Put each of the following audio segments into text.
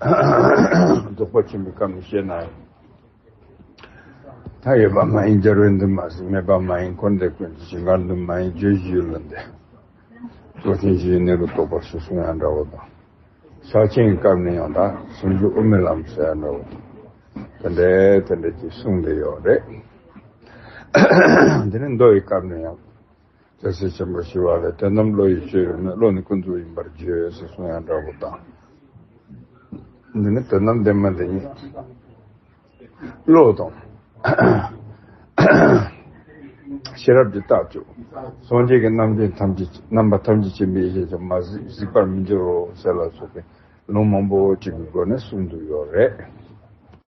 རྫོགས་པ་ཆེན་པོའི་སྐབས་ནས་བཤད་ནའང། མཐའ་ཡས་པ་མ་ཡིན་སྦྱར་བས་འདུན་མ་ཟིན་མེད་པ་མ་ཡིན་འཁོར་འདས་ཀུན་གྱི་ཞིང་ཁར་འདུན་མ་ཡིན་བརྗོད་གཞི་ཡུལ་ལ་འདས། རྫོགས་ཆེན་བཞིའི་གནས་ལུགས་རྟོགས་པར་སོ་སོ་ཡང་འདྲ་བ་དང། ཕྱག་ཆེན་གྱི་སྐབས་ནས་ཡང་དག་ཟུང་འཇུག་དབུ་མའི་ལམ་གསལ་ཡང་འདྲ་བ་དང། དེ་འདྲ་དེ་འདྲ་ཅེས་གསུངས་འདི་ཡོད་རེད། དེ་ནས་མདོ་ཡི་སྐབས་ནས་ཡང། རྒྱལ་སྲས་ཆེན་པོ་ཞི་བ་ལས་དོན་དམ་བློ་ཡི་སྤྱོད་ཡུལ་ནི་བློ་ནི་ཀུན་རྫོབ་ཡིན་པར་བརྗོད་ཅེས་གསུངས་ཡང་འདྲ་བོ་དང། འདི་ནི་དོན་དམ་བདེན་མ་འདི་ཉིད་བློ་དང། ཤེས་རབ་ཀྱི་རྟགས་བཅུ། སངས་རྒྱས་ཀྱི་རྣམ་འདྲེན་ཐམས་ཅད་ཀྱི་རྣམ་པ་ཐམས་ཅད་ཅན་པའི་ཡེ་ཤེས་ཀྱང་མ་གཟིགས་པར་མི་འགྱུར་རོ་ཟེར་ལ་སོགས་པའི་ལུང་མང་པོ་གཅིག་གི་སྒོ་ནས་གསུངས་འདུག་ཡོད་རེད།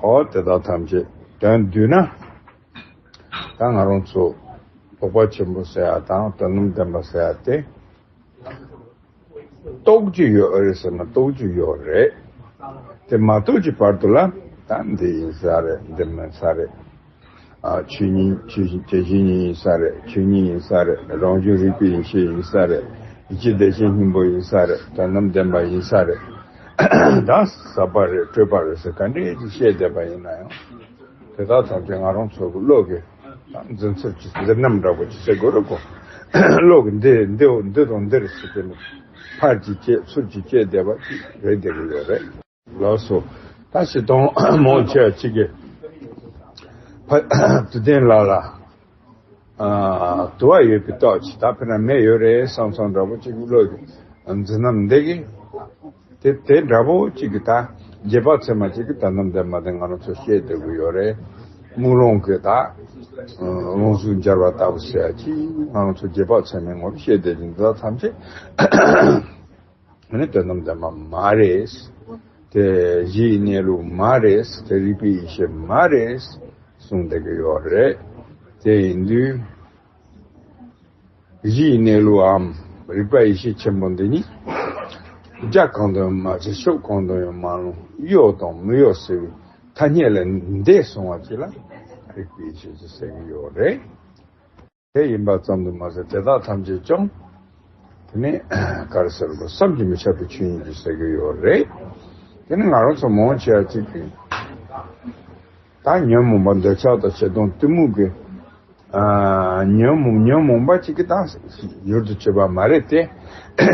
ཨོ་དེ་དག་ཐམས་ཅད་དོན་བསྡུས་ན། ད་ང་རང་ཚོ་དོགས་པ་ཆེན་པོ་ཟེར་བ་དང་དོན་སྣུམ་ལྡན་པ་ཟེར་བ་སྟེ། རྟོགས་ཀྱི་ཡོད་རེད་ཟེར་ན་རྟོགས་ཀྱི་ཡོད་རེད། དེ་མ་རྟོགས་ཀྱི་བར་དུ་ལ་ད་འདི་ཡིན་ས་རེད་འདི་མིན་ས་རེད། ཆོས་ཉིད་ཆོས་བཞིན་དེ་བཞིན་ཉིད་ཡིན་ས་རེད་ཆོས་ཉིད་ཡིན་ས་རེད་རང་བྱུང་རིག་པའི་ཡེ་ཤེས་ཡིན་ས་རེད་ཡེ་ཤེས་བདེ་ཆེན་སྙིང་པོ་ཡིན་ས་རེད་དོན་རྣམས་བདེན་པ་ཡིན་ས་རེད། ད་ཟབ་པ་རེད་སྤྲོས་པ་རེད་ཟེར་ག་འདྲས་ཀྱིས་བཤད་བསྡད་པ་ཡིན་ན་ཡང། དེ་དག་ཚང་མཁན་ང་རང་ཚོ་གི་བློ་གི་འཛིན་ཚུལ་གྱི་འཛིན་རྣམ་འདྲ་པོ་ཞིག་བྱེད་དགོས་རེད་གོ། བློ་གི་འདི་འདི་འོ་འདི་དང་འདིར་ཟེར་གྱི་ནི་ཕར་གྱིས་བསྐྱེད་ཚུར་གྱིས་བསྐྱེད་བསྡད་པ་ཅིག་རེད་བསྡད་ཀྱི་ཡོད་རེད། ལགས་སོ། ད་བྱེད་གཏོང་མང་ཆེ་བ་གཅིག་གི། ཕ། དུ་ལྡན་ལགས་ལ། དུ་བ་ཡོད་པའི་རྟོག་ཅི་ད་ཕེ་ན་མེ་ཡོད་རེད་སང་སང་འདྲ་པོ་གཅིག་བློ་གི་འཛིན་ནམ་འདེ་གི། དེ་དེ་འདྲ་པོ་གཅིག་གི་ད་རྗེས་དཔག་ཚད་མ་གཅིག་གི་ད་ནམ་འདེ་མ་འདེ་ང་རང་ཚོ་ཤེས་བསྡད་དགོས་ཡོད་རེད་དམུག་ལོང་གི་ད། རླུང་གཟུགས་འབྱར་བ་ལྟ་བུ་ཟེར་ཡ་གཅིག་ང་རང་ཚོ་རྗེས་དཔག་ཚད་མའི་ངོར་ཤེས་བསྡད་ཀྱིན་འདི་དག་ཐམས་ཅད། ང་ནི་དོན་དམ་དམ་པ་མ་རེད། དེ་གཞིའི་གནས་ལུགས་མ་རེད། དེ་རིག་པའི་ཡེ་ཤེས་མ་རེད། གསུངས་བསྡད་ཀྱི་ཡོད་རེད། དེ་ཡིན་དུས། གཞིའི་གནས་ལུགས་འམ་རིག་པ་ཡེ་ཤེས་ཆེན་པོ་འདི་ནི། རྒྱ་གང་དུ་ཡང་མ་མཆིས་ཤོག་གང་དུ་ཡང་མ་ལྷུང་གཡོ་དང་མི་གཡོ་ཟེར་བའི་ཐ་སྙད་ལས་འདས་སོང་བ་གཅིག་ལ་རིག་པའི་ཡེ་ཤེས་ཞེས་ཟེར་གྱི་ཡོད་རེད། དེ་ཡིན་པ་ཙམ་དུ་མ་ཟད་དེ་དག་ཐམས་ཅད་ཀྱང། དེ་ནི་གར་ཟེར་དགོས་བསམ་གྱིས་མི་ཁྱབ་པའི་ཆོས་ཡིན་གྱི་ཟེར་གྱི་ཡོད་རེད། དེ་ནི་ང་རང་ཚོ་མང་ཆེ་བ་གཅིག་གིས་ད་ཉོན་མོངས་པ་འདོད་ཆགས་དང་བྱེ་གདོང་གཏི་མུག་གི་ཉོན་མོངས་ཉོན་མོངས་པ་གཅིག་གིས་ད་གཡུར་དུ་བྱེད་པ་མ་རེད་དེ།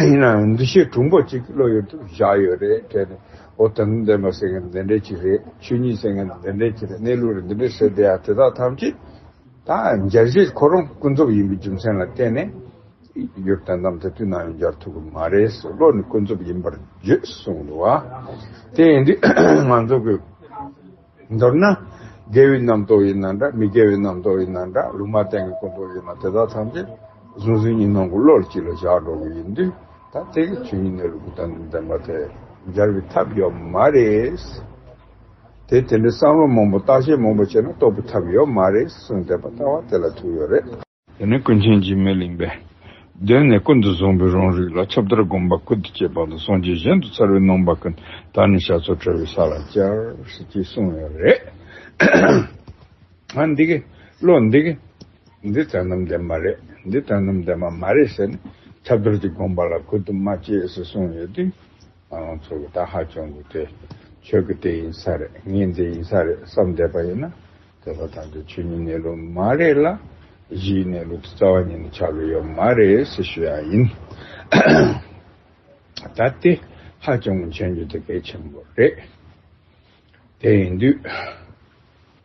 ཡིན་ནའང་འདུ་ཤེས་གྲུང་པོ་གཅིག་གིས་བློ་གཡུར་དུ་བཞག་ཡོད་རེད་དྲན་ནས་ཨོ་དོན་དུ་བདེན་པ་ཟེར་མཁན་དེ་འདྲས་གཅིག་རེད་ཆོས་ཉིད་ཟེར་མཁན་དེ་འདྲས་གཅིག་རེད་གནས་ལུགས་རེད་འདི་འདྲས་ཟེར་བསྡད་ཡ་དེ་དག་ཐམས་ཅད། དང་འཇལ་བྱེད་ཁོ་རང་ཀུན་རྫོབ་ཡིན་པའི་རྒྱུ་མཚན་ལ་བརྟེན་ནས། ཡུལ་དང་གཏམ་དེ་དུས་ན་ཡང་སྦྱར་ཐུབ་ཀྱི་མ་རེད་ཟེར་བློ་ནི་ཀུན་རྫོབ་ཡིན་པར་བརྗོད་གསུངས་འདུག་བ། དེ་ཡིན་དུས་ང་ཚོ་གིས། མདོར་ན། དགེ་བའི་རྣམ་རྟོག་ཡིན་ན་འདྲ་མི་དགེ་བའི་རྣམ་རྟོག་ཡིན་ན་འདྲ་ལུང་མ་བསྟན་གྱི་ཀུན་རྟོག་ཡིན་ན་དེ་དག་ཐམས་ཅད་གཟུང་འཛིན་གཉིས་སྣང་གི་བློ་གཅིག་ལ་བཞག་འགྲོ་གི་ཡིན་དུས་ད་ལྟའི་གི་དུས་ཉིད་ནས་ལུགས་དང་ལྡན་པ་དེ་སྦྱར་བའི་ཐབས་ཡོད་མ་རེད། དེ་དེ་འདྲའི་བསམ་བློ་མང་པོ་བརྟག་དཔྱད་མང་པོ་བྱས་ན་རྟོགས་པའི་ཐབས་ཡོད་མ་རེད་གསུངས་བསྡད་པ་ལྟ་བ་དེ་ལ་ཐུག་ཡོད་རེད། དེ་ནས་ཀུན་མཁྱེན་གྱིས་མི་གླེང་བས། གདོད་ནས་ཀུན་ཏུ་བཟུང་བའི་རང་རིག་ལ་ཁྱབ་བརྡལ་སྒོམ་པ་ཀུན་ཏུ་སྤྱད་པ་ལ་སངས་རྒྱས་གཞན་དུ་ཚར་བའི་སྣང་བ་ཀུན་ད་ནི་བཤགས་ཚོགས་བྲལ་བའི་ས་ལ་བཅར། ཅེས་གསུངས་ཡོད་རེད། ཧ་འདི་གི་བློ་འདི་གི། འདི་དོན་དམ་བདེན་པ་རེད་འདི་དོན་དམ་བདེན་པ་མ་རེད་ཟེར་ནས་ཁྱབ་བརྡལ་གྱི་སྒོམ་པ་ལ་ཀུན་ཏུ་མ་སྤྱད་ཟེར་གསུངས་ཡོད་དུས། ཁོང་ཚོ་གི་ད་ཧ་གྱོང་གི་དེ་ཁྱོད་ཀྱི་དེ་ཡིན་ས་རེད་ངའི་འདི་ཡིན་ས་རེད་བསམ་བསྡད་པ་ཡིན་ན་དེ་ལ་ད་འདི་ཁྱོད་གཉིས་གནས་ལུགས་མ་རེད་ལ་གཞིའི་གནས་ལུགས་དེ་རྩ་བ་ཉིད་ནས་ཆགས་གི་ཡོད་མ་རེད་ཟེར་ཤོས་ཡང་ཡིན། ད་དེ་ཧ་གྱོང་གི་མཆན་རྒྱུ་དེ་གལ་ཆེན་པོ་རེད་དེ་ཡིན་དུས།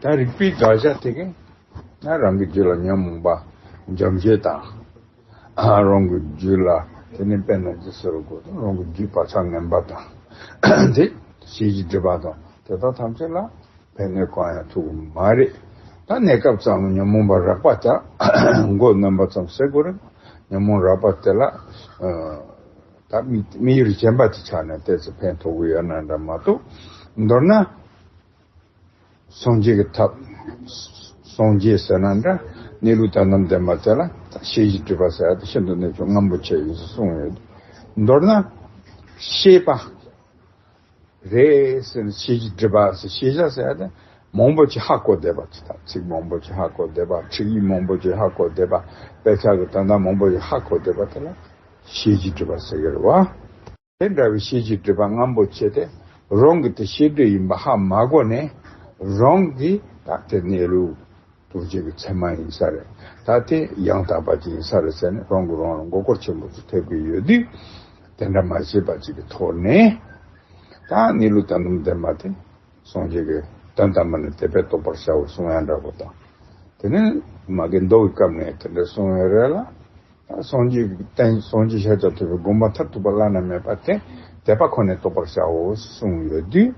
ད་རིག་པའི་དགག་བྱ་དེ་གང་ན་རང་གི་རྒྱུད་ལ་ཉོན་མོངས་པ་འཇམ་བྱེད་དང། རང་གི་རྒྱུད་ལ་དེ་ནི་དཔེར་ན་ཇི་སྲིད་རོ་གོ་རང་གི་རྒྱུད་བག་ཆགས་ངན་པ་དང། དེ་བྱེད་ཀྱི་སྒྲིབ་པ་དང་དེ་དག་ཐམས་ཅད་ལ་ཕན་གནོད་གང་ཡང་ཐུག་གི་མ་རེད། ད་གནས་སྐབས་ཙམ་ལ་ཉོན་མོངས་པ་རགས་པ་དག་མགོ་གནོན་པ་ཙམ་སེལ་དགོས་རིགས་ཉོན་མོངས་རགས་པ་དེ་ལ་ད་མི་ཡུལ་གྱི་སྐྱེ་འབའ་དེ་ཆགས་ནས་བལྟས་ཚེ་ཕན་ཐོགས་ཀྱི་ཡོད་ན་འདྲ་མ་གཏོགས་མདོར་ན། སངས་རྒྱས་ཀྱི་ཐབས། སངས་རྒྱས་ཟེར་ན་འདྲ། གནས་ལུགས་དང་ནམ་ཟླའི་མ་ཚད་ལ། ཤེས་བཞིན་སྤྲུལ་པ་ཟེར་ཏེ་ཤིན་ཏུ་གནས་ཆུང་ངམ་པོ་ཆེ་ཡིན་ཞེས་གསུངས་ཡོད། མདོར་ན། ཤེས་པ། རེད། ཟེར་ནས་ཤེས་བཞིན་སྤྲུལ་པ་ཟེར་ཤེས་བྱ་ཟེར་ཏེ། མང་པོ་ཆེ་ཧ་གོ་བསྡད་པ། ཚིག་མང་པོ་ཆེ་ཧ་གོ་བསྡད་པ། ཁྲིགས་ཡིག་མང་པོ་ཆེ་ཧ་གོ་བསྡད་པ། དཔེ་ཆ་དང་དོན་དག་མང་པོ་ཆེ་ཧ་གོ་བསྡད་པ་དེ་ལ། ཤེས་བཞིན་སྤྲུལ་པ་ཟེར་གི་རེད་བ། དེ་འདྲ་བའི་ཤེས་བྱའི་འདོད་པ་རྔམ་པོ་ཆེ་དེ་རང་གི་དེ་ཤེས་འདོད་ཡིན་པ་ཧ་མ་གོ་ནས་རང་གི་དག་ཐེར་གནས་ལུགས་རྡོ་རྗེ་གི་ཚད་མ་ཡིན་ས་རེད་ད་དེ་ཡང་དག་པ་ཅིག་ཡིན་ས་རེད་ཟེར་ནས་རང་གི་རང་ལ་མགོ་སྐོར་ཆེན་པོ་ཅིག་ཐེབས་ཀྱི་ཡོད་དུས་དེ་འདྲ་མ་བྱེད་པ་ཅིག་གི་ཐོག་ནས་ད་གནས་ལུགས་དང་སྡོམ་དེ་མ་དེ་སངས་རྒྱས་ཀྱི་དོན་དམ་པ་ནི་དད་པས་རྟོགས་པར་བྱའོ་གསུང་ཡང་འདྲ་པོ་དང་དེ་ནི་མ་གི་མདོ་གི་སྐབས་ནས་དེ་འདྲ་གསུང་ཡོད་རེད་ལ། སངས་རྒྱས་ཀྱི་བསྟན་སྲོག་འཇིགས་ཤར་ལྕགས་ཐོད་པའི་དགོངས་པ་མཐར་ཐུག་པ་བླ་ན་མེད་པ་སྟེ་དད་པ་ཁོ་ནས་རྟོགས་པར་བྱའོ་གསུངས་ཡོད་དུས།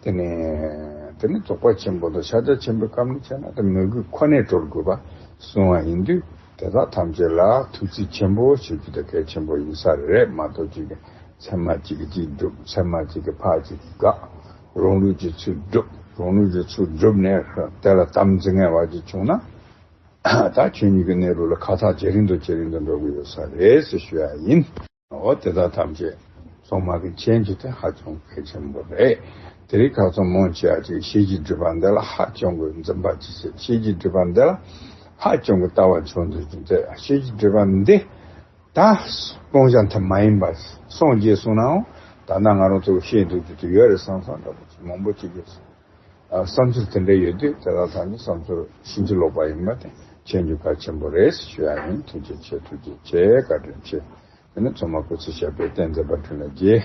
དེ་ནི་དེ་ནི་རྫོགས་པ་ཆེན་པོ་དང་ཤར་ལྕགས་ཆེན་པོའི་སྐབས་ནས་བྱས་ན་དེ་མོས་གུས་ཁོ་ནས་གྲོལ་དགོས་པ་གསུངས་བ་ཡིན་དུས་དེ་དག་ཐམས་ཅད་ལ་ཐུགས་རྩིས་ཆེན་པོ་བྱེད་རྒྱུ་དེ་གལ་ཆེན་པོ་ཡིན་ས་རེད་མ་གཏོགས་གཅིག་གིས་ཚད་མ་གཅིག་གིས་གཅིག་སྒྲུབ་ཚད་མ་གཅིག་གིས་ཕག་གཅིག་གིས་དགག་རང་ལུགས་ཀྱི་ཚུལ་སྒྲུབ་རང་ལུགས་ཀྱི་ཚུལ་སྒྲུབ་ནས་དེ་ལ་དམ་འཛིན་ངེས་བར་གྱིས་བྱུང་ན། ད་ཁྱོད་གཉིས་ཀྱི་གནས་ལུགས་ལ་ཁ་ཐག་ཇེ་རིང་དུ་ཇེ་རིང་དུ་འགྲོ་གི་ཡོད་ས་རེད་ཟེར་ཞུ་ཡ་ཡིན། འོ་དེ་དག་ཐམས་ཅད་ཚོང་དམག་གི་མཆན་རྒྱུ་དེ་ཧ་ཅང་གལ་ཆེན་པོ་རེད། དེ་རིགས་ཁག་ཚོང་མང་ཆེ་བ་ཅིག་གཞས་ཀྱི་སྒྲིབ་པ་འདི་ལ་ཧ་ཅང་གི་འཛེམ་བག་ཅིག་བྱེད་གཞས་ཀྱི་སྒྲིབ་པ་འདི་ལ་ཧ་ཅང་གི་ལྟ་བ་འཆོར་འདོད་ཅིག་མཛད་གཞས་ཀྱི་སྒྲིབ་པ་འདི་ད་སྤོང་བྱ་མཐའ་མ་ཡིན་པ་སངས་རྒྱས་གསུངས་ནའང་ད་ནང་ང་རང་ཚོ་གཞས་འདོད་རྒྱུ་དེ་ཡོད་རེད་བསམ་བསམ་འདྲ་པོ་ཅིག་མང་པོ་ཅིག་ཡོད་སྲིད། བསམ་ཚུལ་དེ་འདྲ་ཡོད་དུས་དེ་དག་དང་ནི་བསམ་ཚུལ་ཕྱིན་ཅི་ལོག་པ་ཡིན་པ་དེ་ཤེས་རྒྱུ་གལ་ཆེན་པོ་རེད་ཞུ་ཡག་ཡིན་ཐུགས་རྗེ་ཆེ་ཐུགས་རྗེ་ཆེ་བཀའ་དྲིན་ཆེ། དེ་ནས་ཚོགས་མ་སྐུ་ཚེ་ཞབས་པད་བརྟན་མཛད་པར་འཕྲིན་ལས་རྒྱས།